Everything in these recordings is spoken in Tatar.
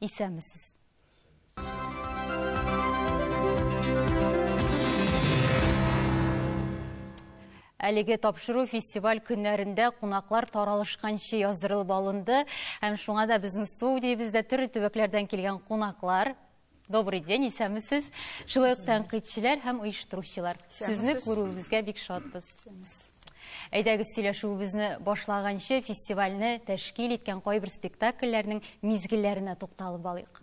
Исәнмесез. Әлеге тапшыру фестиваль көннәрендә кунаклар таралышканчы яздырылып алынды. Һәм шуңа да безнең студиябездә төрле төбәкләрдән килгән кунаклар Добрый день, исәмісіз. Шулай ук тәнкыйтьчеләр һәм оештыручылар. Сезне күрүебезгә бик шатбыз. Әйдәгез сөйләшүебезне башлаганчы фестивальне тәшкил иткән кайбер спектакльләрнең мизгелләренә тукталып алыйк.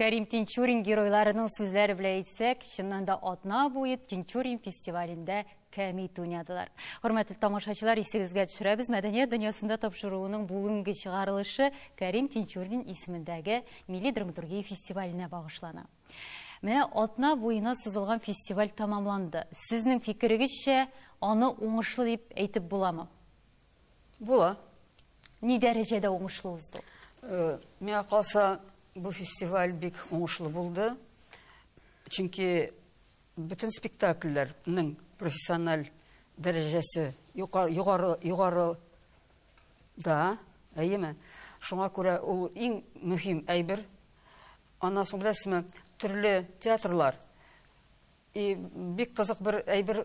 Кәрим Тинчурин геройларының сүзләре белән әйтсәк, чыннан да атна буе Тинчурин фестивалендә кәмит уйнадылар. Хөрмәтле тамашачылар, исегезгә төшерәбез, мәдәният дөньясында тапшыруының бүгенге чыгарылышы Кәрим Тинчурин исемендәге милли драматургия фестиваленә багышлана. Менә атна буена сузылган фестиваль тәмамланды. Сезнең фикерегезчә, аны уңышлы дип әйтеп буламы? Була. Ни дәрәҗәдә уңышлы узды? Э, миңа калса, бу фестиваль бик уңышлы булды. Чөнки бөтен спектакльләрнең профессиональ дәрәҗәсе югары югары да, әйеме? Шуңа күрә ул иң мөһим әйбер. Аннан соң беләсезме, төрле театрлар и бик кызык бер әйбер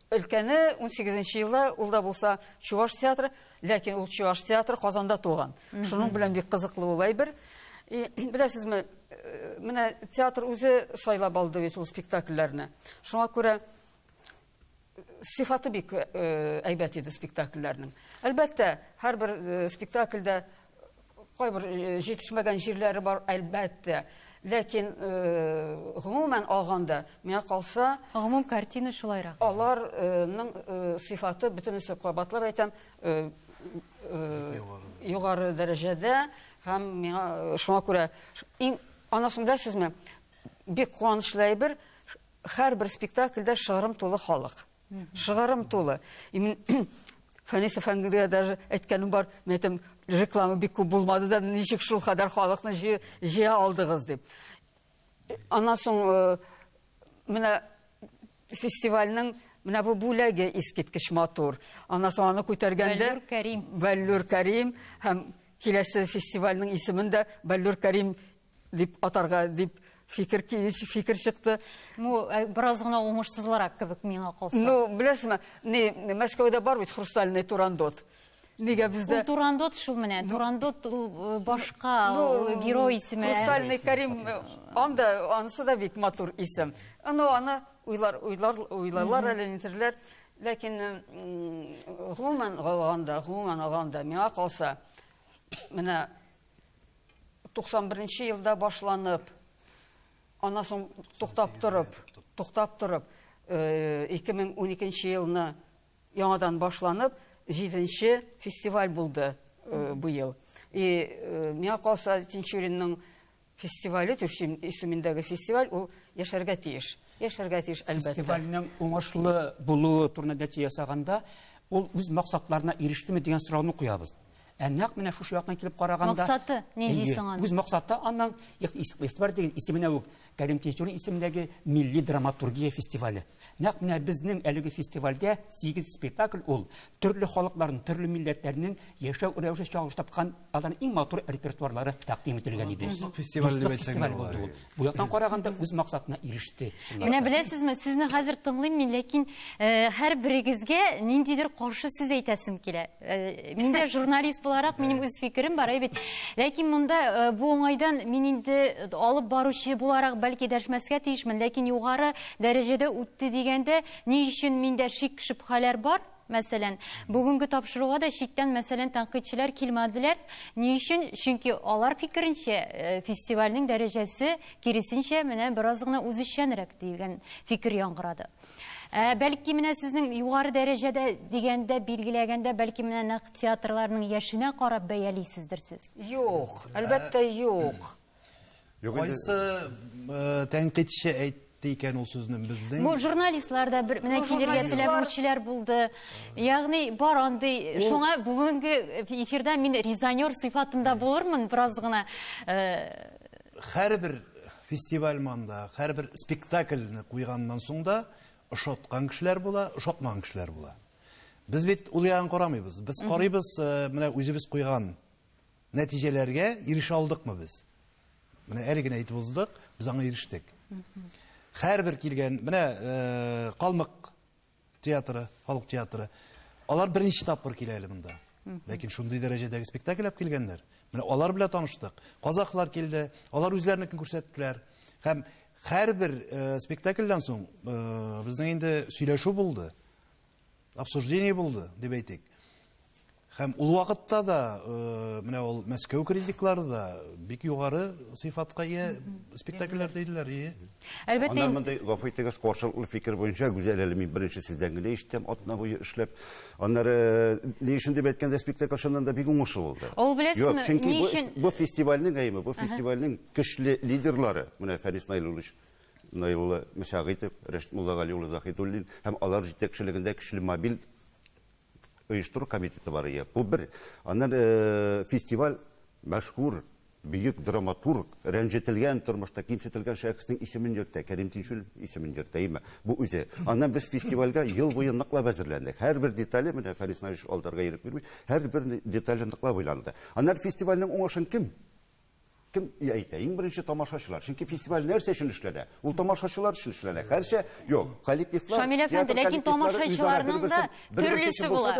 Өлкәне унсигезенче елда ул да булса чуваш театры, ләкин ул чуваш театры Казанда туган. Шуның белән бик кызыклы ул әйбер. И, беләсезме, э, менә театр үзе сайлап алды бит ул спектакльләрне. Шуңа күрә э, сыйфаты бик э, әйбәт иде спектакльләрнең. Әлбәттә, һәрбер э, спектакльдә Кайбер җитешмәгән җирләре бар, әлбәттә. Ләкин, гомумән алганда, миңа калса, Гомум картина шулайрак. аларның сыйфаты бөтенесе кабатлап әйтәм, югары дәрәҗәдә һәм миңа шуңа күрә иң анысын беләсезме, бик куанычлы әйбер, һәрбер спектакльдә шыгрым тулы халык. Шыгарым тулы. Имин Фәнис әфәндегә даже әйткәнем бар, мен әйтәм, реклама бик күп булмады да, ничек шул кадәр халыкны җыя алдыгыз дип. Аннан соң э, менә фестивальнең менә бу бүләге искиткеч матур. Аннан соң аны күтәргәндә Бәллүр Кәрим. Бәллүр Кәрим һәм киләсе фестивальнең исемен дә Бәллүр Кәрим дип атарга дип фикер фикер чыкты. Ну, э, бераз гына уңышсызлырак кебек миңа калса. Ну, беләсезме, не Мәскәүдә бар бит хрустальный турандот. Нигә бездә? Ул турандот шул менә. Ну, турандот э, башка ну, э, герой исеме. Хрустальный Карим анда анысы да бик матур исем. Ну, аны уйлар уйлар уйларлар әле нитерләр. Ләкин гомумән алганда, гомумән алганда миңа калса, менә 91 нче елда башланып, аннан соң туктап торып, туктап торып, 2012 э, нче елны яңадан башланып, җиденче фестиваль булды э, быел. И э, миңа калса Тинчуринның фестивале Тюрсин исемендәге фестиваль ул яшәргә тиеш. Яшәргә тиеш әлбәттә. Фестивальнең уңышлы булуы турында нәтиҗә ясаганда, ул үз максатларына ирештеме дигән сорауны куябыз. Ә нәкъ менә шушы яктан килеп караганда... Максаты ни дисең аны? Үз максаты аннан, игътибар итегез, исеменә үк, Кәрим Тинчурин исемендәге милли драматургия фестивале. Нәкъ менә безнең әлеге фестивальдә сигез спектакль ул, төрле халыкларның, төрле милләтләрнең яшәү рәвеше чагылыш тапкан, аларның иң матур репертуарлары тәкъдим ителгән иде. Дуслык фестивале дип әйтсәң дә була. Бу яктан караганда үз максатына иреште. Менә беләсезме, сезне хәзер тыңлыйм мин, ләкин э, һәр берегезгә ниндидер каршы сүз әйтәсем килә. Э, мин дә журналист буларак минем үз фикерем бар, әй бит. Ләкин монда э, бу уңайдан мин инде алып баручы буларак бәлки дәшмәскә тиешмен, ләкин югары дәрәҗәдә үтте дигәндә, ни өчен миндә шик-шөбһәләр бар? Мәсәлән, бүгенге тапшыруга да читтән мәсәлән тәнкыйтьчеләр килмәделәр. Ни өчен? Чөнки алар фикеренчә, фестивальнең дәрәҗәсе, киресенчә, менә бераз гына үзешчәнрәк дигән фикер яңгырады. Ә бәлки менә сезнең югары дәрәҗәдә дигәндә, билгеләгәндә, бәлки менә нәкъ театрларның яшенә карап бәялисездер сез? Юк, әлбәттә, юк. Юк инде. Кайсы э, тәнкыйтьче әйтте икән ул сүзне безнең? Бу журналистлар да бер менә килергә теләмәүчеләр булды. Ягъни бар андый. Шуңа бүгенге эфирда мин резонер сыйфатында булырмын бераз гына. Э, Һәрбер фестиваль манда, һәрбер спектакльне куйганнан соң да ошаткан кешеләр була, ошатмаган кешеләр була. Без бит ул ягын карамыйбыз. Без карыйбыз, э, менә үзебез куйган Нәтиҗәләргә ирешә алдыкмы без? Менә әле генә әйтеп уздык, без аңа ирештек. Һәрбер килгән, менә э, Калмык театры, халык театры, алар беренче тапкыр килә әле монда. Ләкин шундый дәрәҗәдәге спектакль алып килгәннәр. Менә алар белән таныштык. Казахлар килде, алар үзләренекен күрсәттеләр. Һәм һәрбер э, спектакльдән соң э, безнең инде сөйләшү булды. обсуждение булды, дип әйтик. Һәм ул вакытта да э, менә ул Мәскәү критиклары да бик югары сыйфатка ия спектакльләр диделәр. Ие. Әлбәттә. Аннан монда гафу итегез, каршылыклы фикер буенча Гүзәл әле мин беренче сездән генә ишеттем, атна буе эшләп. Аннары э, ни өчен дип әйткәндә спектакль чыннан да бик уңышлы булды. Ул беләсезме, чөнки бу, бу фестивальнең әйме, бу фестивальнең көчле лидерлары, менә Фәнис Наилуллович Наилулла Мәшәгыйтов, Рәшит Муллагали улы Заһидуллин һәм алар җитәкчелегендә көчле мобиль оештыру комитеты бар ия. Бу бер. Аннан э, фестиваль мәшһүр бөек драматург, рәнҗетелгән тормышта кимсетелгән шәхеснең исемен йөртә, Кәрим Тинчурин исемен йөртә, әйме. Бу үзе. Аннан без фестивальгә ел буе ныклап әзерләндек. Һәрбер детале, менә Фәнис Наилович алдарга ирек бирми, һәрбер детале ныклап уйланды. Аннан фестивальнең уңышын кем Кем әйтә? Иң беренче тамашачылар. Чөнки фестиваль нәрсә өчен эшләнә? Ул тамашачылар өчен эшләнә. Хәрчә, юк, коллективлар, Шамил әфәнде, ләкин тамашачыларның да төрлесе була.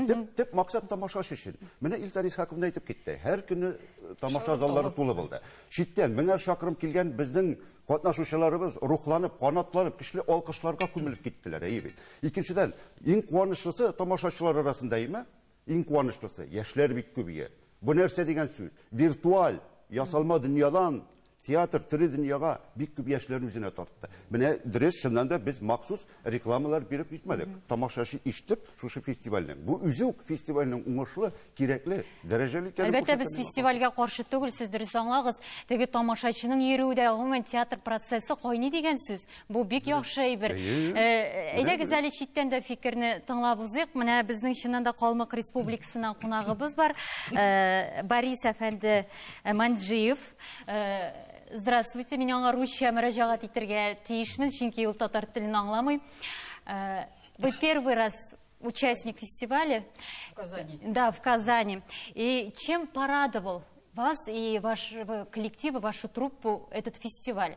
Төп, төп максат тамашачы өчен. Менә Илтар Исхаков әйтеп китте. Һәр көнне тамаша заллары тулы булды. Читтән меңәр чакрым килгән безнең катнашучыларыбыз рухланып, канатланып, көчле алкышларга күмелеп киттеләр, әйе бит. Икенчедән, иң куанычлысы тамашачылар арасында, әйеме? Иң куанычлысы, яшьләр бик күбәя. Бу нәрсә дигән сүз? Виртуаль, ясалма дөньядан театр, тере дөньяга бик күп яшьләр үзенә тартты. Менә дөрес, чыннан да без махсус рекламалар биреп җитмәдек. Тамашачы ишетеп, шушы фестивальнең, бу үзе үк фестивальнең уңышлы, кирәкле, дәрәҗәле икәнен Әлбәттә, без фестивальгә каршы түгел, сез дөрес аңлагыз. Теге тамашачының йөрүе дә, гомумән, театр процессы кайный дигән сүз. Бу бик яхшы әйбер. Әйдәгез әле читтән дә фикерне тыңлап узыйк. Менә безнең чыннан да Калмык Республикасыннан кунагыбыз бар. Борис әфәнде Манджиев. Здравствуйте, мин аңа русча мөрәҗәгать итәргә тиешмен, чөнки ул татар телен аңламый. Вы первый раз участник фестиваля. В Казани. Да, в Казани. И чем порадовал вас и ваш коллектив, и вашу труппу этот фестиваль?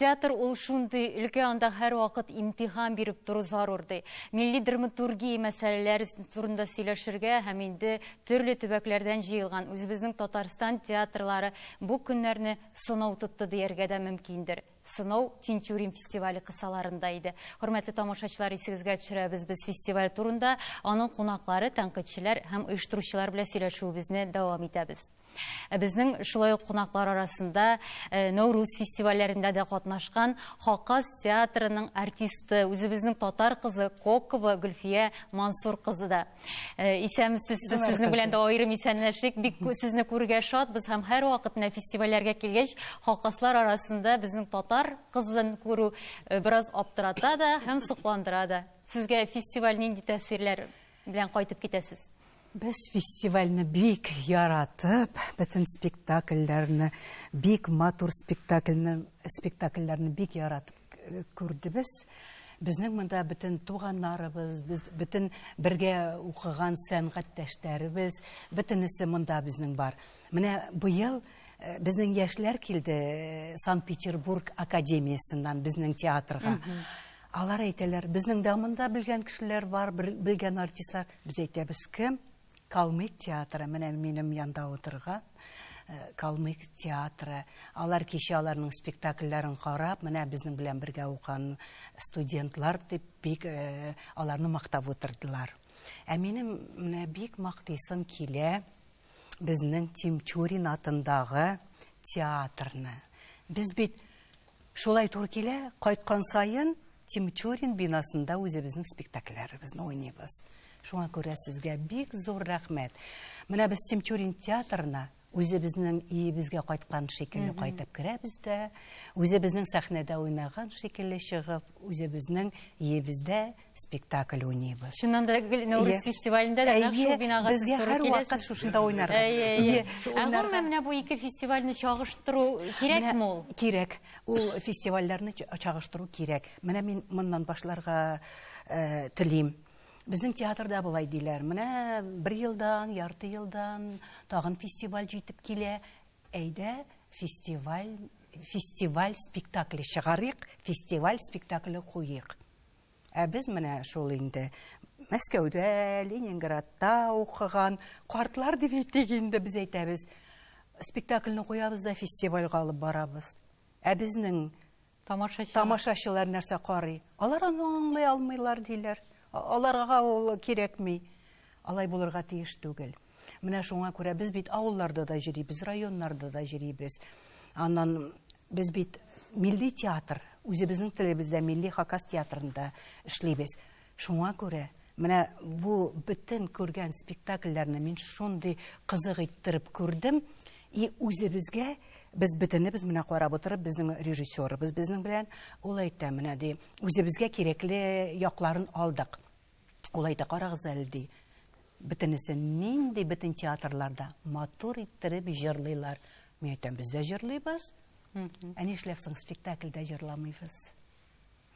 Театр ул шундый өлкә, анда һәрвакыт имтихан биреп тору зарур ди. Милли драматургия мәсьәләләре турында сөйләшергә һәм инде төрле төбәкләрдән җыелган үзебезнең Татарстан театрлары бу көннәрне сынау тотты дияргә дә мөмкиндер. сынау Тинтюрин фестивале кысаларында иде. Хөрмәтле тамашачылар, исегезгә төшерәбез, без фестиваль турында аның кунаклары, тәнкыйтьчеләр һәм оештыручылар белән сөйләшүебезне дәвам итәбез. Ә безнең шулай ук кунаклар арасында э, Нәүрүз фестивальләрендә дә катнашкан Хакас театрының артисты, үзебезнең татар кызы Кокова Гөлфия Мансур кызы да. Исәнмесез, сезнең белән дә аерым исәнләшик. Бик сезне күрергә шатбыз һәм һәрвакыт менә фестивальләргә килгәч, хакаслар арасында безнең татар кызын күрү э, бераз аптырата да һәм сокландыра да. Сезгә фестиваль нинди тәэсирләр белән кайтып китәсез? Без фестивальне бик яратып, бөтен спектакльләрне, бик матур спектакльне, спектакльләрне бик яратып күрдебез. Безнең монда бөтен туганнарыбыз, без бөтен бергә укыган сәнгатьтәшләребез, бөтенесе монда безнең бар. Менә быел э, безнең яшьләр килде э, Санкт-Петербург академиясеннән безнең театрга. Алар әйтәләр, безнең дә монда белгән кешеләр бар, белгән артистлар. Без әйтәбез, кем? Калмык театры, менә минем янда утырган Калмык театры. Алар кичә аларның спектакльләрен карап, менә безнең белән бергә укыган студентлар дип бик аларны мактап утырдылар. Ә минем менә бик мактыйсым килә безнең Тимчурин атындагы театрны. Без бит Шулай туры килә, кайткан саен Тимчурин бинасында үзебезнең спектакльләребезне уйныйбыз. Шуңа күрә сезгә бик зур рәхмәт. Менә без Тимчурин театрына үзебезнең иебезгә кайткан шикелле кайтып керәбез дә, үзебезнең сәхнәдә уйнаган шикелле чыгып, үзебезнең иебездә спектакль уйныйбыз. Чыннан да гел Нәүрүз фестивалендә дә нәкъ шул бинага сез туры киләсез. Безгә һәрвакыт шушында уйнарга. Әйе. Ә гомумән менә бу ике фестивальне чагыштыру кирәкме ул? Кирәк. Ул фестивальләрне чагыштыру кирәк. Менә мин моннан башларга э, телим. Безнең театрда болай диләр. Менә бер елдан, ярты елдан тагын фестиваль җитеп килә. Әйдә, фестиваль фестиваль спектакле чыгарыйк, фестиваль спектакле куйыйк. Ә без менә шул инде Мәскәүдә, Ленинградта укыган картлар дип әйтик инде без әйтәбез. Спектакльне куябыз да фестивальгә алып барабыз. Ә безнең тамашачылар, тамашачылар нәрсә карый? Алар аны аңлый алмыйлар диләр. Аларга ул кирәкми. Алай булырга тиеш түгел. Менә шуңа күрә без бит авылларда да җөрибез, районнарда да җөрибез. Аннан без бит милли театр, үзебезнең телебездә милли хакас театрында эшлибез. Шуңа күрә менә бу бөтен күргән спектакльләрне мин шундый кызык иттереп күрдем, и үзебезгә без бөтенебез менә карап утырып, безнең режиссерыбыз безнең белән ул әйтә, менә ди, үзебезгә кирәкле якларын алдык. Ул әйтә, карагыз әле, ди, бөтенесе нинди бөтен театрларда матур иттереп җырлыйлар. Мин әйтәм, без дә җырлыйбыз. Ә нишләп соң спектакльдә җырламыйбыз?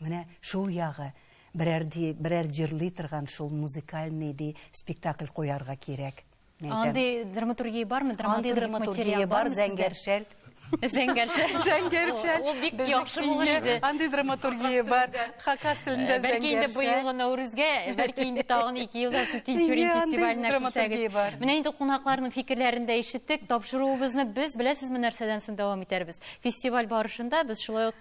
Менә шул ягы берәр ди, берәр җырлый торган шул музыкальный ди спектакль куярга кирәк. Андый драматургия бармы? Андый драматургия бар, зәңгәршәл. Зәңгәршәл. Зәңгәршәл. Ул бик яхшы булыр иде. Андый драматургия бар. Хакас телендә зәңгәршәл. Бәлки инде бу елгы Нәүрүзгә, бәлки инде тагын 2 елдан соң Тинчурин фестиваленә күрсәгез. Менә инде кунакларның фикерләрен дә ишеттек. Тапшыруыбызны без беләсезме нәрсәдән соң дәвам итәрбез? Фестиваль барышында без шулай ук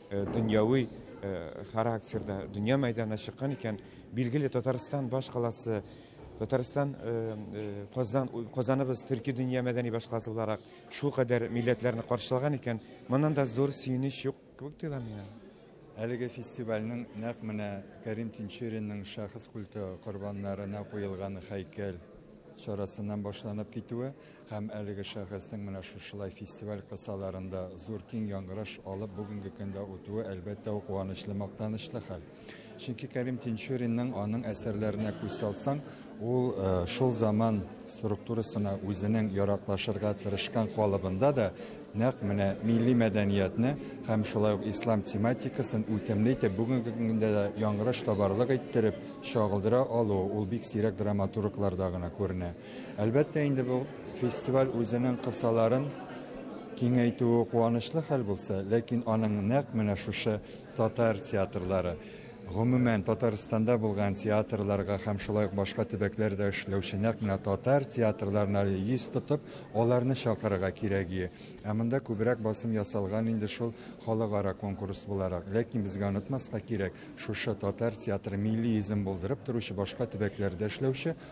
дөньяви характерда дөнья мәйданына чыккан икән, билгеле Татарстан башкаласы Татарстан Казан Казаныбыз төрки дөнья мәдәни башкаласы буларак шул кадәр милләтләрне каршылаган икән, моннан да зур сөенеч юк кебек тоела миңа. Әлеге фестивальнең нәкъ менә Кәрим Тинчуринның шәхес культы корбаннарына куелган һәйкәл чарасыннан башланып китүе Һәм әлеге шәхеснең менә шушылай фестиваль кысаларында зур киң яңгыраш алып бүгенге көндә үтүе, әлбәттә, ул куанычлы, мактанычлы хәл. Чөнки Кәрим Тинчуринның аның әсәрләренә күз салсаң, ул э, шул заман структурасына үзенең яраклашырга тырышкан калыбында да нәкъ менә милли мәдәниятне һәм шулай ук ислам тематикасын үтемле итеп бүгенге көндә дә яңгыраш табарлык иттереп чагылдыра алуы ул бик сирәк драматургларда гына күренә. Әлбәттә инде бу фестиваль үзенең кысаларын киңәйтүе куанычлы хәл булса, ләкин аның нәкъ менә шушы татар театрлары, гомумән Татарстанда булган театрларга һәм шулай ук башка төбәкләрдә эшләүче нәкъ менә татар театрларына йөз тотып, аларны чакырырга кирәге. Ә монда күбрәк басым ясалган инде шул халыкара конкурс буларак. Ләкин безгә онытмаска кирәк, шушы татар театры милли йөзен булдырып торучы башка төбәкләрдә эшләүче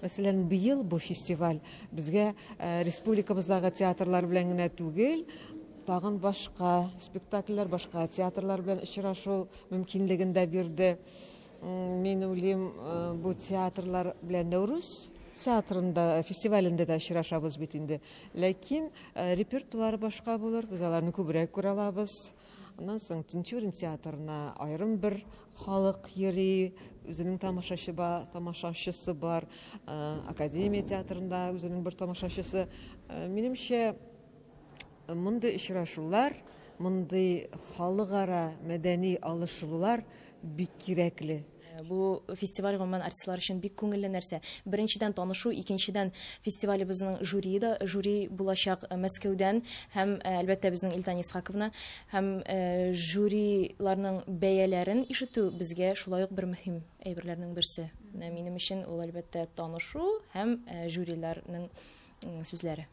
Мәсәлән, быел бу фестиваль безгә республикабыздагы театрлар белән генә түгел, тагын башка спектакльләр, башка театрлар белән очрашу мөмкинлеген дә бирде. Мин уйлыйм, бу театрлар белән Нәүрүз театрында фестивалендә дә очрашабыз бит инде. Ләкин репертуар башка булыр, без аларны күбрәк күрә алабыз. Аннан соң Тинчурин театрына аерым бер халык йөри, үзенең тамашачы бар, тамашачысы бар. Э, Академия театрында үзенең бер тамашачысы. Э, минемчә, мондый очрашулар, мондый халыкара мәдәни алышулар бик кирәкле. Э, бу фестиваль гомумән артистлар өчен бик күңелле нәрсә. Беренчедән танышу, икенчедән фестивалебезнең жюри да жюри булачак э, Мәскәүдән һәм э, әлбәттә безнең Илтан Исхаковна һәм жюриларның бәяләрен ишетү безгә шулай ук бер мөһим әйберләрнең берсе. Менә минем өчен ул әлбәттә танышу һәм жюриларның сүзләре.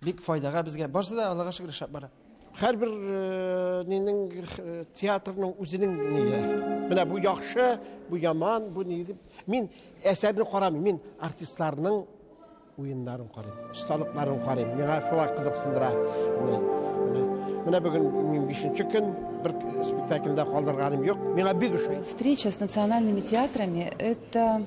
Бик файдага безгә. Барсы да Аллага шөкер эшләп бара. Һәрбер э, нинең э, театрның үзенең нигә. Менә бу яхшы, бу яман, бу ни дип. Мин әсәрне карамыйм, мин артистларның уеннарын карыйм, осталыкларын карыйм. Миңа шулар кызыксындыра. Менә бүген мин 5нче көн бер спектакльдә калдырганым юк. Миңа бик ошый. Встреча с национальными театрами это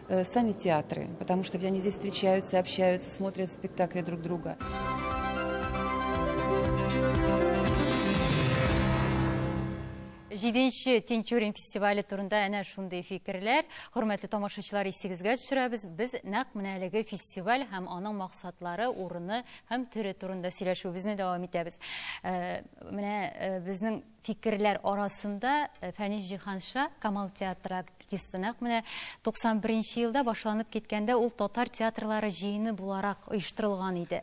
Э, сами театры, потому что они здесь встречаются, общаются, смотрят спектакли друг друга. Җиденче Тинчурин фестивале турында әнә шундый фикерләр. Хөрмәтле тамашачылар, исегезгә төшерәбез. Без нәкъ менә әлеге фестиваль һәм аның максатлары, урыны һәм төре турында сөйләшүебезне дәвам итәбез. Э, менә э, безнең Фикерләр арасында Фәнис Җиһанша, Камал театры артисты, нәкъ менә 91 нче елда башланып киткәндә ул татар театрлары җыены буларак оештырылган иде.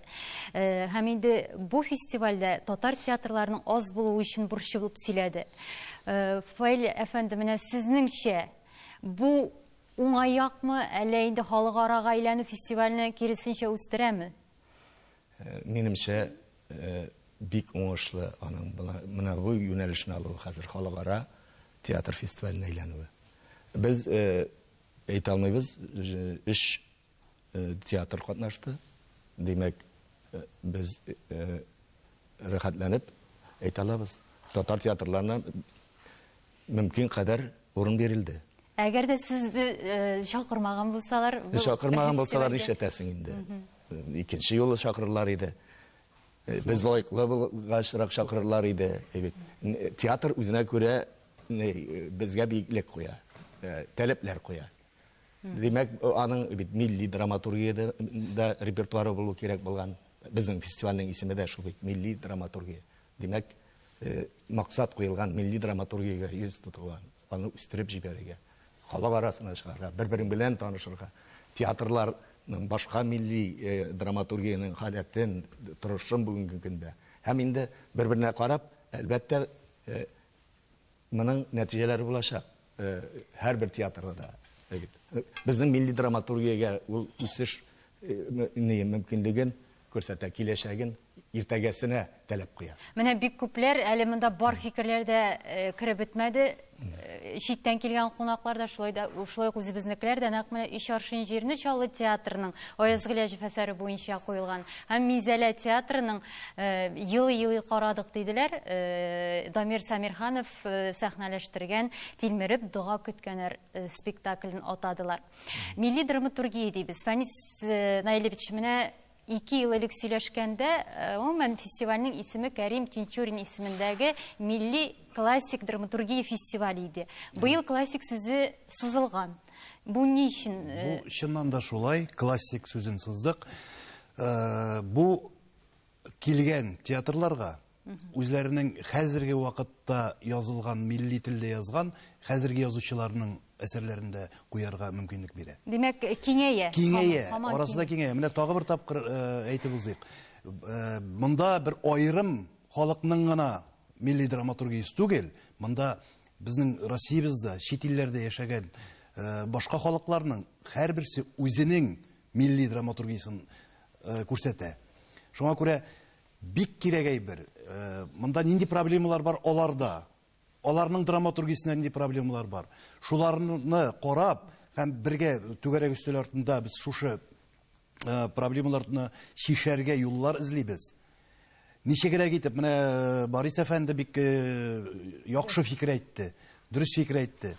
Һәм инде бу фестивальдә татар театрларының аз булуы өчен борчылып сөйләде. Фаил әфәнде, менә сезнеңчә, бу уңай якмы, әллә инде халыкарага әйләнү фестивальне киресенчә үстерәме? Минемчә, Бик уңышлы аның менә бу юнәлешне алуы хәзер, халыкара театр фестиваленә әйләнүе. Без әйтә алмыйбыз, өч театр катнашты. Димәк, без рәхәтләнеп әйтә алабыз. Татар театрларына мөмкин кадәр урын бирелде. Әгәр дә сезне чакырмаган булсалар? Чакырмаган булсалар нишләтәсең инде? Икенче юлы чакырырлар иде. Без лаеклы булгачрак чакырырлар иде. Театр үзенә күрә безгә биеклек куя, таләпләр куя. Димәк, аның бит милли драматургия дә репертуары булу кирәк булган. Безнең фестивальнең исеме дә шул бит, милли драматургия. Димәк, максат куелган милли драматургиягә йөз тотуга, аны үстереп җибәрергә, халык арасына чыгарга, бер-берең белән танышырга, театрларның башка милли драматургиянең халәтен, торышын бүгенге көндә һәм инде бер-беренә карап, әлбәттә, Моның нәтиҗәләре булачак һәрбер театрда да. Безнең милли драматургиягә ул үсеш мөмкинлеген күрсәтә, киләчәген, иртәгәсенә таләп куя. Менә бик күпләр, әле монда бар фикерләр дә кереп бетмәде, читтән килгән кунаклар да, шулай да, шулай ук үзебезнекеләр дә нәкъ менә Өч аршин җирне Чаллы театрының Аяз Гыйләҗев әсәре буенча куелган һәм Минзәлә театрының Елый-елый карадык, диделәр. Дамир Сәмирханов сәхнәләштергән Тилмереп дога көткәннәр спектаклен атадылар. Милли драматургия дибез. Фәнис Наилевич, менә ике ел элек сөйләшкәндә, э, гомумән фестивальнең исеме Кәрим Тинчурин исемендәге милли классик драматургия фестивале иде. Быел классик сүзе сызылган. Бу ни өчен? Э, Бу чыннан да шулай, классик сүзен сыздык. Э, бу килгән театрларга үзләренең хәзерге вакытта язылган милли телдә язган хәзерге язучыларның әсәрләрен дә куярга мөмкинлек бирә. Димәк, киңәя. Киңәя, арасында киңәя. Менә тагы бер тапкыр э, әйтеп узыйк. Э, монда бер аерым халыкның гына милли драматургиясе түгел, монда безнең Россиябездә, чит илләрдә яшәгән э, башка халыкларның һәрберсе үзенең милли драматургиясен күрсәтә. Шуңа күрә бик кирәк әйбер. Монда нинди проблемалар бар аларда? Аларның драматургиясендә нинди проблемалар бар? Шуларны карап һәм бергә түгәрәк өстәл артында без шушы проблемаларны чишәргә юллар эзлибез. Ничегрәк итеп, менә Борис әфәнде бик яхшы фикер әйтте, дөрес фикер әйтте.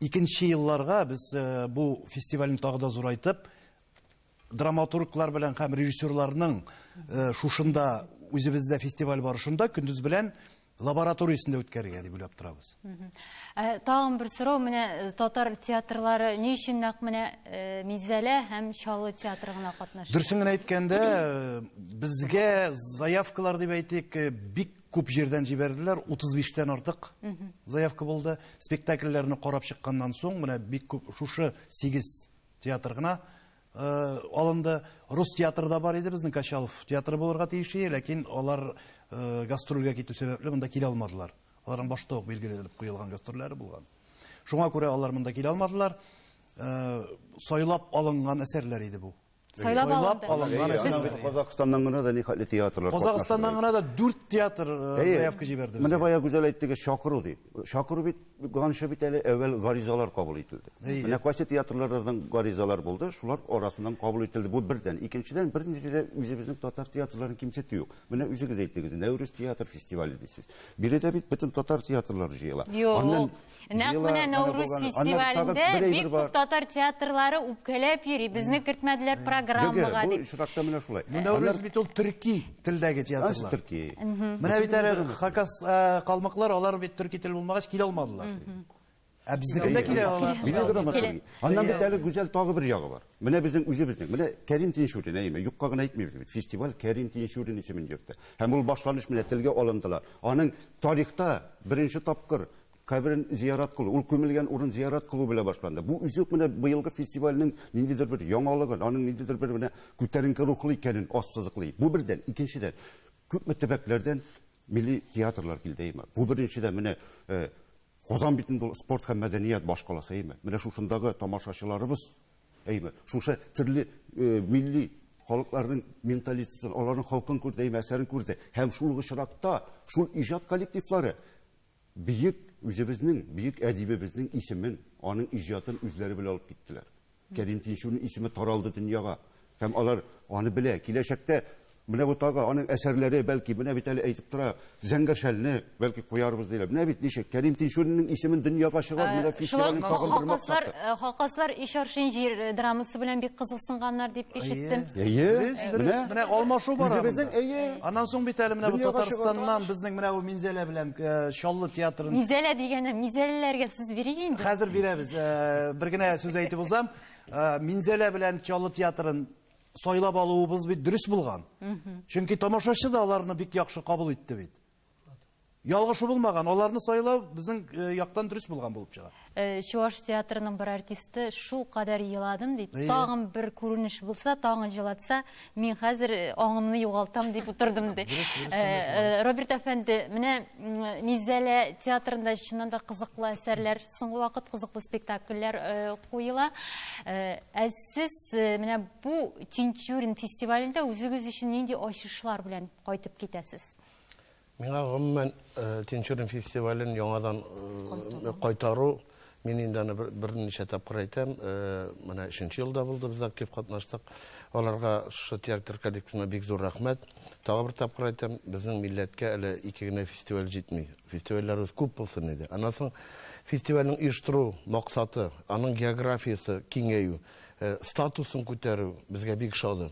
Икенче елларга без бу фестивальне тагы да зурайтып, драматурглар белән һәм режиссерларның шушында үзебездә фестиваль барышында көндез белән лабораториясендә үткәрергә дип уйлап торабыз. Ә, тагын бер сорау, менә э, татар театрлары ни өчен нәкъ менә э, Минзәлә һәм Чаллы театры гына катнаша? Дөресен генә әйткәндә, э, безгә заявкалар дип әйтик, бик күп җирдән җибәрделәр, 35-тән артык заявка булды. Спектакльләрне карап чыкканнан соң, менә бик күп шушы 8 Театр гына алынды. Рус театры да бар иде, безнең Качалов театры булырга тиеш иде, ләкин алар гастрольгә китү сәбәпле монда килә алмадылар. Аларның башта ук билгеләнеп куелган гастрольләре булган. Шуңа күрә алар монда килә алмадылар. Сайлап алынган әсәрләр иде бу. Сайлап алынды. Алынган әсәрләр. Казакъстаннан гына да нихәтле театрлар. Казакъстаннан гына да 4 театр заявка җибәрде. Менә бая гүзәл әйтте, чакыру дип. Чакыру бит ганчы бит әле әүвәл гаризалар кабул ителде. Менә кайсы театрлардан гаризалар булды, шулар арасыннан кабул ителде. Бу бердән. Икенчедән, бернинди дә үзебезнең татар театрларын кимсетү юк. Менә үзегез әйттегез, Нәүрүз театр фестивале дисез. Биредә бит бөтен татар театрлары җыела. Юк. Нәкъ менә Нәүрүз фестивалендә бик күп татар театрлары үпкәләп йөри. Безне кертмәделәр программага дип. Бу очракта менә шулай. Нәүрүз бит ул төрки. Телдәге театрлар. Ачы төрки. Менә бит әле хакас калмыклар, алар бит төрки тел булмагач килә алмадылар. Ә безнекендә килә алар. Бина драматургия. Аннан бит әле гүзәл тагы бер ягы бар. Менә безнең үзебезнең. Менә Кәрим Тинчурин, әйеме, юкка гына әйтмибез бит. Фестиваль Кәрим Тинчурин исемен йөртә. Һәм ул башланыш менә телгә алындылар. Аның тарихта беренче тапкыр Каберен зиярат кылу, ул күмелгән урын зиярат кылу белән башланды. Бу үзе үк менә быелгы фестивальнең ниндидер бер яңалыгын, аның ниндидер бер менә күтәренке рухлы икәнен ассызыклый. Бу бердән. Икенчедән, күпме төбәкләрдән милли театрлар килде, әйеме? Бу беренчедән, менә Казан бит инде ул спорт һәм мәдәният башкаласы, әйеме? Менә шушындагы тамашачыларыбыз, әйеме, шушы төрле милли халыкларның менталитетын, аларның халкын күрде, әйеме, әсәрен күрде. Һәм шул ук очракта шул иҗат коллективлары Бөек үзебезнең бөек әдибебезнең исемен, аның иҗатын үзләре белән алып киттеләр. Кәрим Тинчурин исеме таралды дөньяга. Һәм алар аны белә. Киләчәктә менә бу тагы аның әсәрләре, бәлки, менә бит әле әйтеп тора, Зәңгәр шәлне, бәлки, куярбыз, диләр. Менә бит ничек, Кәрим Тинчуринның исемен дөньяга чыгарып, менә фестивальне тагын бер мактап тор. Шулай ук Хакаслар Иш арчын җир драмасы белән бик кызыксынганнар дип ишеттем. Әйе. Әйе. Менә. Менә алмашу бара. Үзебезнең, әйе. Аннан соң бит әле менә бу Татарстаннан безнең менә бу Мизәлә белән э, Чаллы театрын Мизәлә дигәне мизәлләргә сүз бирик инде. хәзер бирәбез. Э, Бер генә сүз әйтеп узам. Э, Минзәлә белән Чаллы театрын сайлап алуыбыз бит дөрес булган. Чөнки тамашачы да аларны бик яхшы кабул итте бит. Ялгышы булмаган, аларны сайлау безнең э, яктан дөрес булган булып чыга. Э, чуваш театрының бер артисты шул кадәр еладым ди тагын бер күренеш булса тагын җылатса мин хәзер э, аңымны югалтам дип утырдым ди э, роберт әфәнде менә низәлә театрында чыннан да кызыклы әсәрләр соңгы вакыт кызыклы спектакльләр куела ә сез менә бу тинчурин фестивалендә үзегез өчен нинди ачышлар белән кайтып китәсез Миңа гомумән Тинчурин фестивален яңадан кайтару Мин инде аны берничә тапкыр әйтәм, менә өченче елда булды, без актив катнаштык. Аларга шушы театр коллективына бик зур рәхмәт. Тагы бер тапкыр әйтәм, безнең милләткә әле ике генә фестиваль җитми. Фестивальләребез күп булсын иде. Аннан соң фестивальнең оештыру максаты, аның географиясе киңәю, статусын күтәрү безгә бик ошады.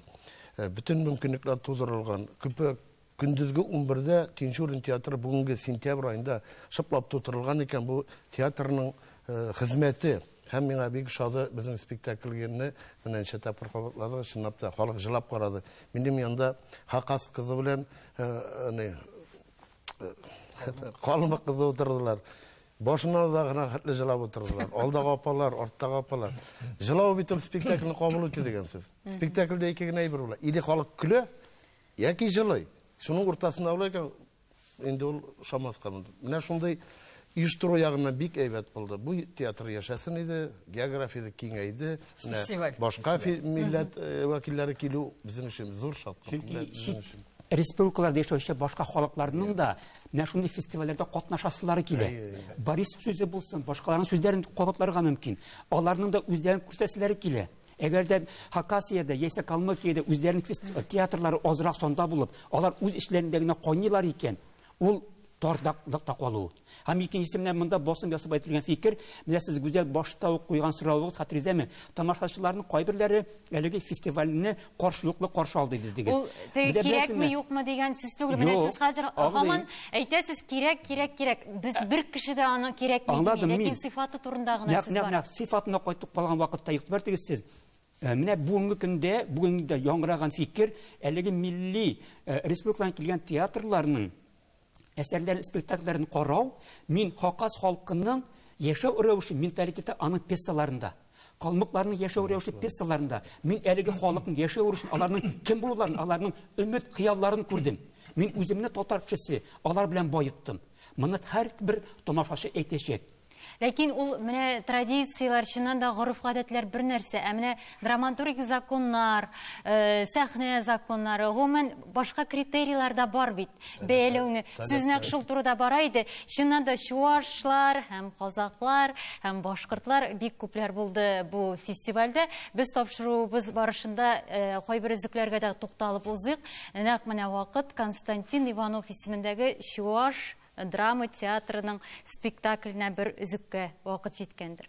Бөтен мөмкинлекләр тудырылган. Күпе Көндезге унбердә Тинчурин театры бүгенге сентябрь аенда шыплап тутырылган икән, бу театрның хезмәте. Һәм миңа бик ошады безнең спектакльгене менә ничә тапкыр кабатладыгыз, чынлап та, халык җылап карады. Минем янда Хакас кызы белән ни Калмык кызы утырдылар. Башына да гына хәтле җылап утырдылар. Алдагы апалар, арттагы апалар. Җылау бит ул спектакльне кабул итү дигән сүз. Спектакльдә ике генә әйбер була. Или халык көлә, Яки җылый. Шуның уртасында була икән, инде ул шамаска булды. Менә шундый оештыру ягыннан бик әйбәт булды. Бу театр яшәсен иде, географиясе киңәйде. Менә башка милләт э, вәкилләре килү безнең өчен зур шатлык. Чөнки чит республикаларда яшәүче башка халыкларның да менә шундый фестивальләрдә катнашасылары килә. Борис сүзе булсын, башкаларның сүзләрен кабатларга мөмкин. Аларның да үзләрен күрсәтәселәре килә. Әгәр дә Хакасиядә яисә Калмыкиядә үзләренең театрлары азрак санда булып, алар үз эшләрендә генә кайныйлар икән, ул тардакта калу. Һәм икенчесе менә монда басым ясап әйтелгән фикер, менә сез гүзәл башта ук куйган соравыгыз хәтерегездәме? Тамашачыларның кайберләре әлеге фестивальне каршылыклы каршы алды дидегез. Ул теге кирәкме юкмы дигән сүз түгел. Менә сез хәзер һаман әйтәсез кирәк, кирәк, кирәк. Без ә, бер кеше дә аны кирәкми дими, ләкин сыйфаты турында гына сүз бар. Нәкъ сыйфатына кайтып калган вакытта игътибар итегез сез. Ә, менә бүгенге көндә, бүгенге дә яңгыраган фикер, әлеге милли ә, республикадан килгән театрларның әсәрләрен, спектакльләрен карау, мин хакас халкының яшәү рәвеше, менталитеты аның пьесаларында, калмыкларның яшәү рәвеше пьесаларында, мин әлеге халыкның яшәү рәвешен, аларның кем булуларын, аларның өмет хыялларын күрдем. Мин үземне татар кешесе, алар белән баеттым. Моны һәр бер тамашачы әйтәчәк. Ләкин ул менә традицияләр, чыннан да гореф-гадәтләр бер нәрсә, ә менә драматургик законнар, э, сәхнә законнары, гомумән башка критерийлар да бар бит. Бәяләүне сүз нәкъ шул турыда бара иде. Чыннан да чуашлар һәм казаклар һәм башкортлар бик күпләр булды бу фестивальдә. Без тапшыруыбыз барышында э, кайбер өзекләргә дә тукталып узыйк. Нәкъ менә вакыт Константин Иванов исемендәге чуаш Драма театрының спектакленә бер өзеккә вакыт җиткәндер.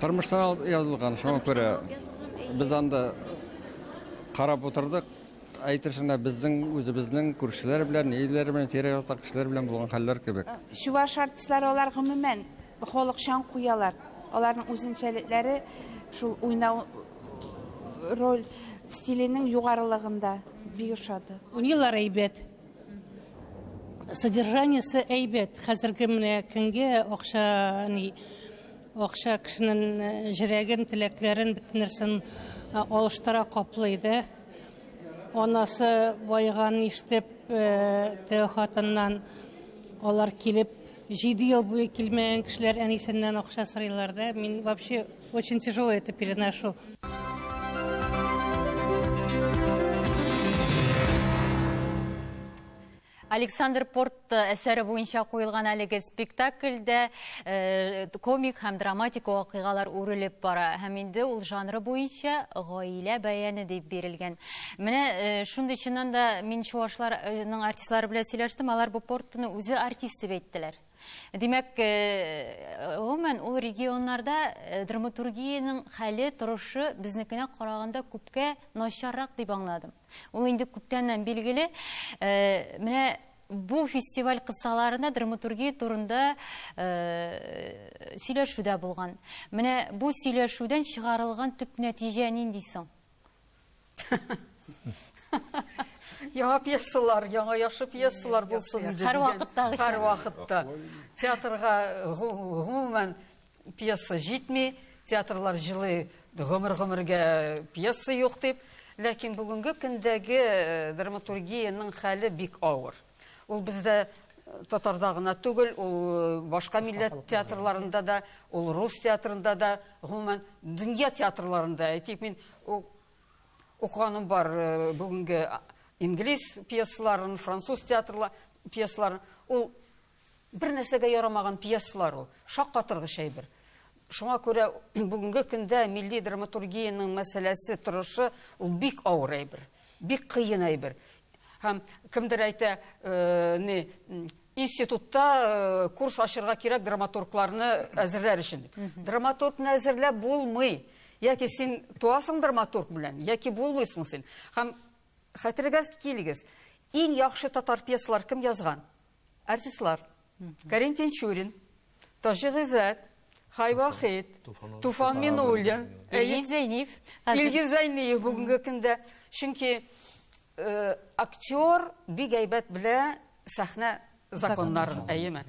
Тормыштан алып язылган, шуңа күрә без анда карап утырдык. Әйтерсең безнең үзебезнең күршеләр белән, ниләр белән, тирә-якта кешеләр белән булган хәлләр кебек. Э, чуваш артистлары алар гомумән халыкчан куялар. Аларның үзенчәлекләре шул уйнау роль стиленең югарылыгында бик ошады. Уйныйлар әйбәт. Содержаниесе әйбәт. Хәзерге менә көнгә акча, ни, акча кешенең э, җөрәген, теләкләрен, бөтен нәрсен э, алыштыра, каплый да. Анасы байыганын ишетеп, э, теге хатыннан алар килеп, җиде ел буе килмәгән кешеләр әнисеннән акча сорыйлар да. Мин вообще Очень тяжело это переношу. Александр Порт э, әсәре буенча қойылған әлеге спектакльдә э, комик һәм драматик вакыйгалар үрелеп бара. Һәм инде ул жанры буенча гаилә бәяне дип бирелгән. Менә э, шундый чыннан да мин чувашларның артистлары белән сөйләштем, алар бу Портны үзе артист дип әйттеләр. Димәк, гомумән, ул регионнарда драматургиянең хәле, торышы безнекенә караганда күпкә начаррак дип аңладым. Ул инде күптәннән билгеле. Менә бу фестиваль кысаларында драматургия турында сөйләшү дә булган. Менә бу сөйләшүдән чыгарылган төп нәтиҗә нинди соң? Яңа пьесалар, яңа яхшы пьесалар булсын иде. Һәр вакыттагыча. Һәр вакытта. Театрга гомумән пьеса җитми, театрлар җылы гомер-гомергә пьеса юк дип. Ләкин бүгенге көндәге э, драматургиянең хәле бик авыр. Ул бездә татарда гына түгел, ул э, башка милләт театрларында да, ул рус театрында да, гомумән дөнья театрларында. Әйтик, мин укыганым бар э, бүгенге инглиз пьесаларын, француз театрлар пьесаларын. Ул бер нәрсәгә ярамаган пьесалар ул. Шаккатыргыч әйбер. Шуңа күрә бүгенге көндә милли драматургиянең мәсьәләсе торышы ул бик авыр әйбер, бик кыен әйбер. Һәм кемдер әйтә, э, не, институтта э, курс ачырга кирәк драматургларны әзерләр өчен. Драматургны әзерләп булмый. Яки син туасың драматург белән, яки булмыйсың син. Һәм хәтергә килегез, иң яхшы татар пьесалар кем язган? Артистлар, Кәрим Тинчурин, Таҗи Гыйззәт, Хайвахит, Туфан Минуллин, Илгиз Зәйниев. Илгиз Зәйниев бүгенге көндә. Чөнки э, актер бик әйбәт белә сәхнә законнарын, әйеме?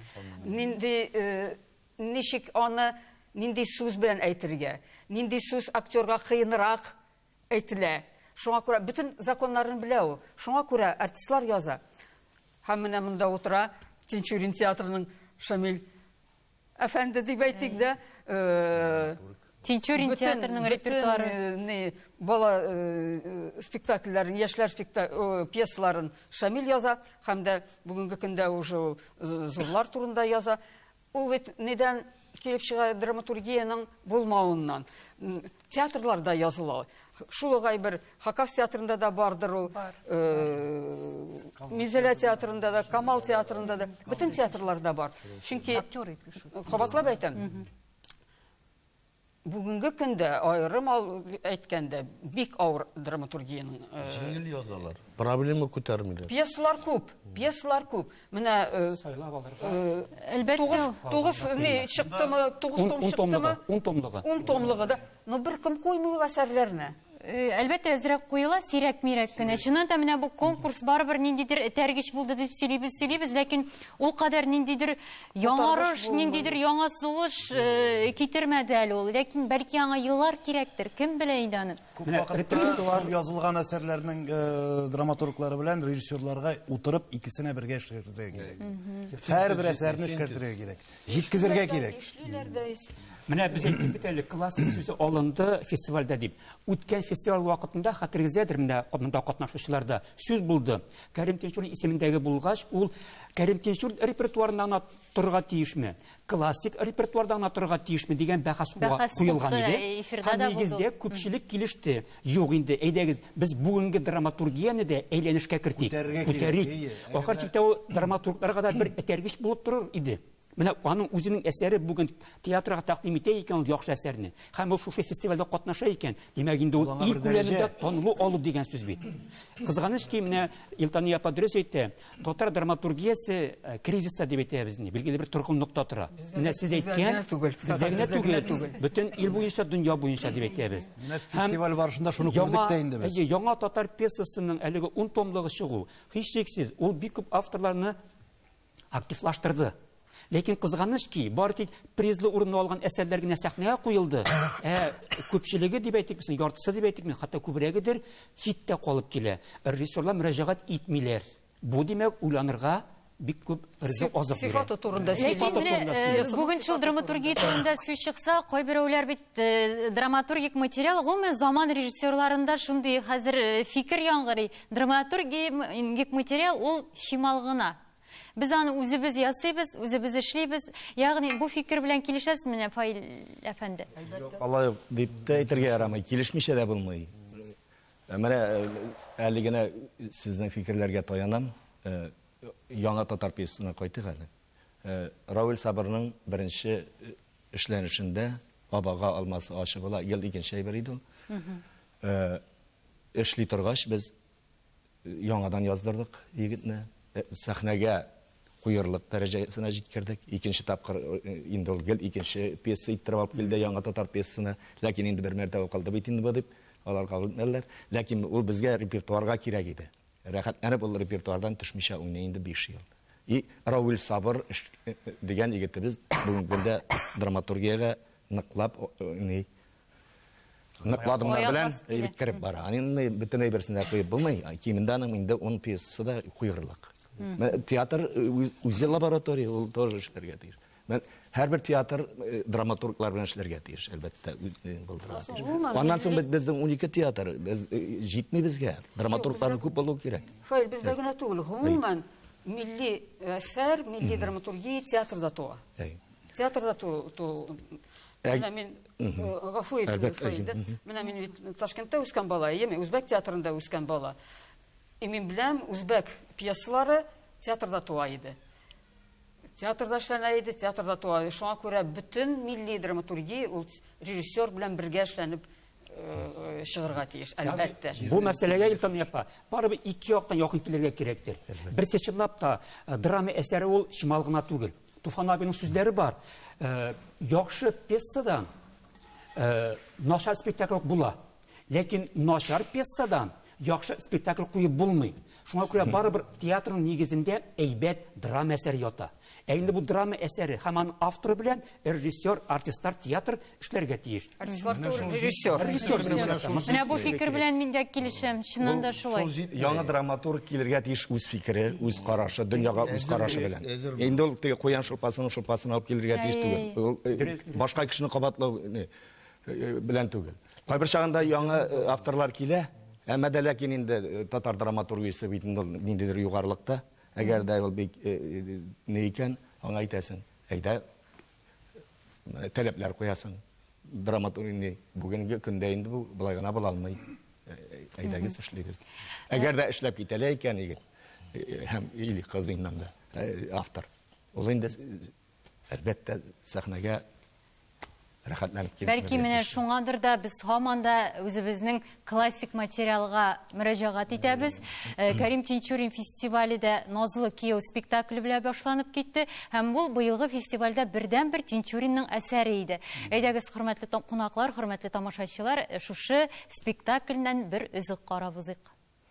Нинди э, ничек аны нинди сүз белән әйтергә, нинди сүз актерга кыенрак Әйтелә. Шуңа күрә бөтен законнарын белә ул. Шуңа күрә артистлар яза. Һәм менә монда утыра Тинчурин театрының Шамил әфәнде дип әйтик дә. Э, Тинчурин театрының репертуары. Э, бала э, спектакльләрен, яшьләр пьесаларын Шамил яза, һәм дә бүгенге көндә уже зурлар турында яза. Ул бит нидән килеп чыга драматургиянең булмавыннан. Театрларда языла. Шул угай бер Хакас театрында да бардыр ул. Мизелә театрында да, Камал театрында да, бөтен театрларда бар. Чөнки актер итү. Кабатлап әйтәм. Бүгенге көндә аерым әйткәндә бик авыр драматургиянең э, җиңел язалар. Проблема күтәрмиләр. Пьесалар күп, пьесалар күп. Менә э, сайлап алырга. Э, Әлбәттә, 9 не чыктымы, 9 том чыктымы? 10 томлыгы. 10 томлыгы да. Но бер кем куймый ул әсәрләрне. Э, әлбәттә әзрәк куела сирәк-мирәк кенә чыннан да менә бу конкурс барыбер ниндидер этәргеч булды дип сөйлибез сөйлибез ләкин ул кадәр ниндидер яңарыш ниндидер яңа сулыш э, китермәде әле ул ләкин бәлки аңа еллар кирәктер кем белә инде аны күп вакытта язылган әсәрләрнең э, драматурглары белән режиссерларга утырып икесенә бергә эшләргә кирәк һәрбер әсәрне эшкәртергә кирәк Җиткезергә кирәк. Ишлиләр дә. Менә без әйттек бит әле, классик сүзе алынды фестивальдә дип. Үткән фестиваль вакытында, хәтерегездәдер, менә монда катнашучыларда сүз булды. Кәрим Тинчурин исемендәге булгач, ул Кәрим Тинчурин репертуарында гына торырга тиешме, классик репертуарда гына торырга тиешме дигән бәхәс куелган иде. Һәм нигездә күпчелек килеште. Юк инде, әйдәгез, без бүгенге драматургияне дә әйләнешкә кертик. Күтәрергә кирәк, Күтәрик. әйе. Әгәр Ахыр дә- чиктә ул драматургларга да бер этәргеч булып торыр иде. Менә аның үзенең әсәре бүген театрга тәкъдим итә икән ул яхшы әсәрне, һәм ул шушы фестивальдә катнаша икән, димәк инде ул аңа ил бер дәрәҗә. күләмендә танылу алу дигән сүз бит. Кызганыч ки, менә Илтания апа дөрес әйтә, Татар драматургиясе э, кризиста дип әйтәбез инде, билгеле бер торгынлыкта тора. Менә сез әйткән, бездә генә түгел, бөтен ил буенча, дөнья буенча дип әйтәбез. Фестиваль барышында шуны күрдек тә инде без. Яңа татар пьесасының әлеге 10 томлыгы чыгу, һичшиксез, ул бик күп авторларны активлаштырды. Ләкин кызганыч ки, бары тик призлы урынны алган әсәрләр генә сәхнәгә куелды, ә күпчелеге дип әйтик, яртысы дип әйтик, хәтта күбрәгедер читтә калып килә. Режиссерлар мөрәҗәгать итмиләр. Бу, димәк, уйланырга бик күп ризык азык бирә. Сыйфаты турында сөйлисез. Бүгенчел драматургия турында сүз чыкса, кайберәүләр бит драматургик материал гомумән заман режиссерларында шундый хәзер фикер яңгырый, драматургик материал ул чимал гына. Без аны үзебез ясыйбыз, үзебез эшлибез. Ягъни бу фикер белән килешәсезмени, Фаил әфәнде? Әлбәттә. Алай дип тә әйтергә ярамый, килешмичә дә булмый. Менә әле генә сезнең фикерләргә таянам. Яңа татар пьесасына кайтыйк әле. Равил Сабырның беренче эшләнешендә Абага алмасы ачы була, ел икенче әйбер иде ул. Эшли торгач без Яңадан яздырдык егетне. Сәхнәгә куерлык дәрәҗәсенә җиткердек. Икенче тапкыр инде ул гел икенче пьеса иттереп алып килде, яңа татар пьесасына. Ләкин инде бер мәртәбә укылды бит инде бу дип, алар кабул итмәделәр. Ләкин ул безгә репертуарга кирәк иде. Рәхәтләнеп ул репертуардан төшмичә уйный инде биш ел. И Равил Сабыр дигән егетебез бүгенге көндә драматургиягә ныклап уйный. Ныкладымнар Аяк белән басып килә. әйбит кереп бара. Аны инде бөтен әйберсен дә куеп булмый. Кимендә аның инде 10 пьесасы да куйгырлык. Менә Театр э, үз- үзе лаборатория, ул тоже эшләргә тиеш. Менә Һәрбер театр э, драматурглар белән эшләргә тиеш, әлбәттә, ү- э, булдырырга тиеш. Гомумән, Аннан соң бит безнең 12 театр, без э, җитми безгә. Драматургларның күп булуы кирәк. Фаил, бездә генә түгел, гомумән милли әсәр, милли драматургия театрда туа. Әй. Театрда ту, ту, Менә мин гафу итегез, гафу итегез. Менә мин бит Ташкентта үскән бала, әйеме? Үзбәк театрында үскән бала. И мин беләм, үзбәк пьесалары театрда туа иде. Театрда эшләнә иде, театрда туа иде. Шуңа күрә бөтен милли драматургия ул режиссер белән бергә эшләнеп э, чыгырга тиеш, әлбәттә. Бу мәсьәләгә Илтан япа, барыбер ике яктан якын килергә кирәктер. Берсе чынлап та э, драма әсәре ул чимал гына түгел. Туфан абиның сүзләре бар. Э, яхшы пьесадан э, начар спектакль була. Ләкин начар пьесадан яхшы спектакль куеп булмый. Шуңа күрә барыбер театрның нигезендә әйбәт драма әсәре ята. Ә инде бу драма әсәре һәм аның авторы белән режиссер, артистлар, театр эшләргә тиеш. Артистлар түгел, режиссер. Режиссер Менә бу фикер белән мин дә килешәм, чыннан да шулай. Яңа драматург килергә тиеш үз фикере, үз карашы, дөньяга үз карашы белән. Инде ул теге куян шулпасын шулпасын алып килергә тиеш түгел. Башка кешене кабатлау белән түгел. Кайбер чагында яңа авторлар килә, әмма дә ләкин инде татар драматургиясе бит инде ниндидер югарылыкта. Әгәр дә ул бик ни икән, аңа әйтәсең, әйдә, таләпләр куясың драматург инде бүгенге көндә инде бу болай гына була алмый әйдәгез эшлибез әгәр дә эшләп китәлә икән егет һәм или кыз иннан да автор ул инде әлбәттә сәхнәгә рәхәтләнеп килеп бәлки менә шуңадыр да без һаман да үзебезнең классик материалга мөрәҗәгать итәбез. Э, Кәрим Тинчурин фестивале дә Назлы кияү спектакле белән башланып китте һәм ул быелгы фестивальдә бердәнбер Тинчуринның әсәре иде. Әйдәгез, хөрмәтле кунаклар, хөрмәтле тамашачылар, э, шушы спектакльнән бер өзек карап узыйк.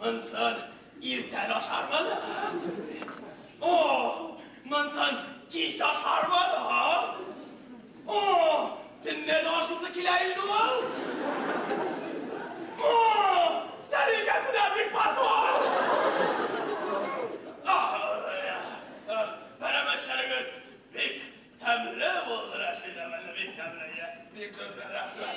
Монсын иртән ашармын. О, монсын кич ашармын. О, төнлә дә ашысы килә инде ул. О, тәрилкәсе дә бик матур. Пәрәмәчләрегез бик тәмле булды, Рәшидә, бик тәмле. Бик төзле, рәхмәт.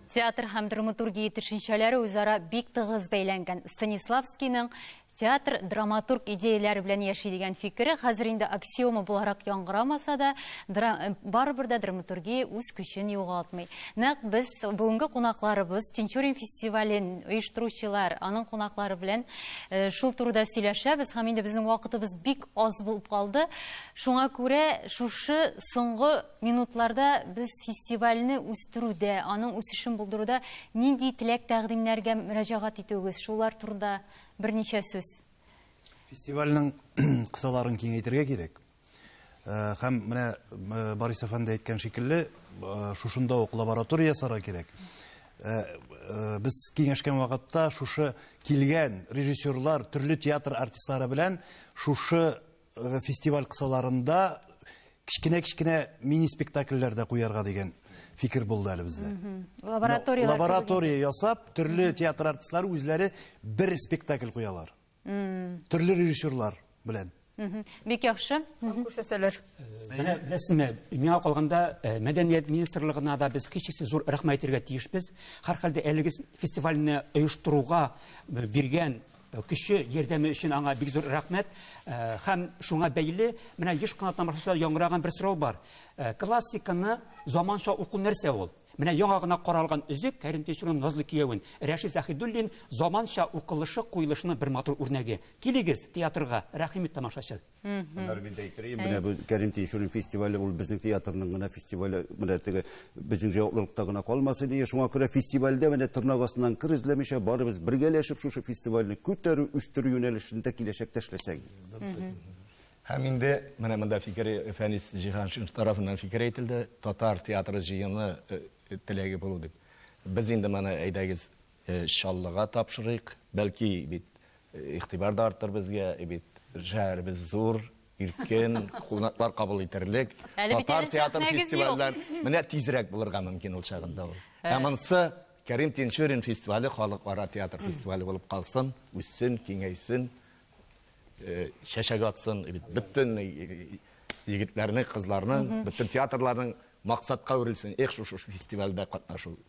Театр һәм драматургия төшенчәләре үзара бик тыгыз бәйләнгән. Станиславскийның театр драматург идеяләре белән яши дигән фикере хәзер инде аксиома буларак яңгырамаса да, э, барыбер дә драматургия үз көчен югалтмый. Нәкъ без бүгенге кунакларыбыз Тинчурин фестивален оештыручылар, аның кунаклары белән э, шул турыда сөйләшәбез һәм инде безнең вакытыбыз бик аз булып калды. Шуңа күрә шушы соңгы минутларда без фестивальне үстерүдә, аның үсешен булдыруда нинди теләк-тәкъдимнәргә мөрәҗәгать итүегез, шулар турында берничә сүз? Фестивальнең кысаларын киңәйтергә кирәк. Һәм менә Борис әфәнде әйткән шикелле, шушында ук лаборатория ясарга кирәк. Без киңәшкән вакытта шушы килгән режиссерлар, төрле театр артистлары белән шушы Э, фестиваль кысаларында кечкенә кечкенә мини спектакльләр дә куярга дигән фикер булды әле бездә лаборатория лаборатория ясап төрле театр артистлары үзләре бер спектакль куялар төрле режиссерлар белән бик яхшы күрсәтәләр менә беләсезме миңа калганда э, мәдәният министрлыгына да без һичшиксез зур рәхмәт әйтергә тиешбез һәрхәлдә әлеге фестивальне оештыруга э, биргән Кеше ярдәме өчен аңа бик зур рәхмәт. Һәм шуңа бәйле менә еш кына тамашачылар яңгыраган бер сорау бар. Классиканы заманча уку нәрсә ул? Менә яңа гына каралган өзек Кәрим Тинчурин назлы киявен Рәшит Заһидуллин заманча укылышы, куелышының бер матур үрнәге. Килегез театрга, рәхим ит тамашачы. Аннары мин дә әйтер идем, менә бу Кәрим Тинчурин фестивале, ул безнең театрның гына фестивале, менә теге безнең җаваплылыкта гына калмасын ие. Шуңа күрә фестивальдә менә тырнак астыннан кыр эзләмичә, барыбыз бергәләшеп шушы фестивальне күтәрү, үстерү юнәлешендә киләчәктә эшләсәк. Һәм инде менә монда фикер Фәнис Җиһаншин тарафыннан фикер әйтелде, татар театры җыены э, э, теләге булу дип. Без инде моны әйдәгез Чаллыга тапшырыйк, бәлки бит игътибар да артыр безгә, бит шәһәребез зур, иркен, кунаклар кабул итәрлек. Татар театр фестивальләр менә тизрәк булырга мөмкин ул чагында ул. Ә монсы Кәрим Тинчурин фестивале халыкара театр фестивале булып калсын, үссен, киңәйсен, чәчәк атсын, бит бөтен егетләрнең, кызларның, бөтен театрларның максатка үрелсен. Эх, шушы фестивальдә катнашу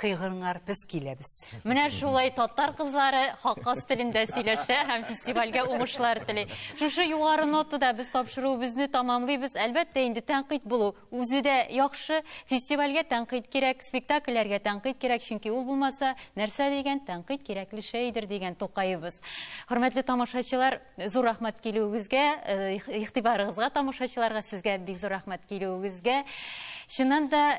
кыйгыңар без киләбез. Менә шулай татар кызлары хакас телендә сөйләшә һәм фестивальгә уңышлар тели. Шушы югары нотада без тапшыруыбызны тамамлыйбыз. Әлбәттә, инде тәнкыйть булу үзе дә яхшы. Фестивальгә тәнкыйть кирәк, спектакльләргә тәнкыйть кирәк, чөнки ул булмаса, нәрсә дигән тәнкыйть кирәкле шәйдер дигән Тукаебыз. Хөрмәтле тамашачылар, зур рәхмәт килүегезгә, э, игътибарыгызга тамашачыларга, сезгә бик зур рәхмәт килүегезгә. Чыннан да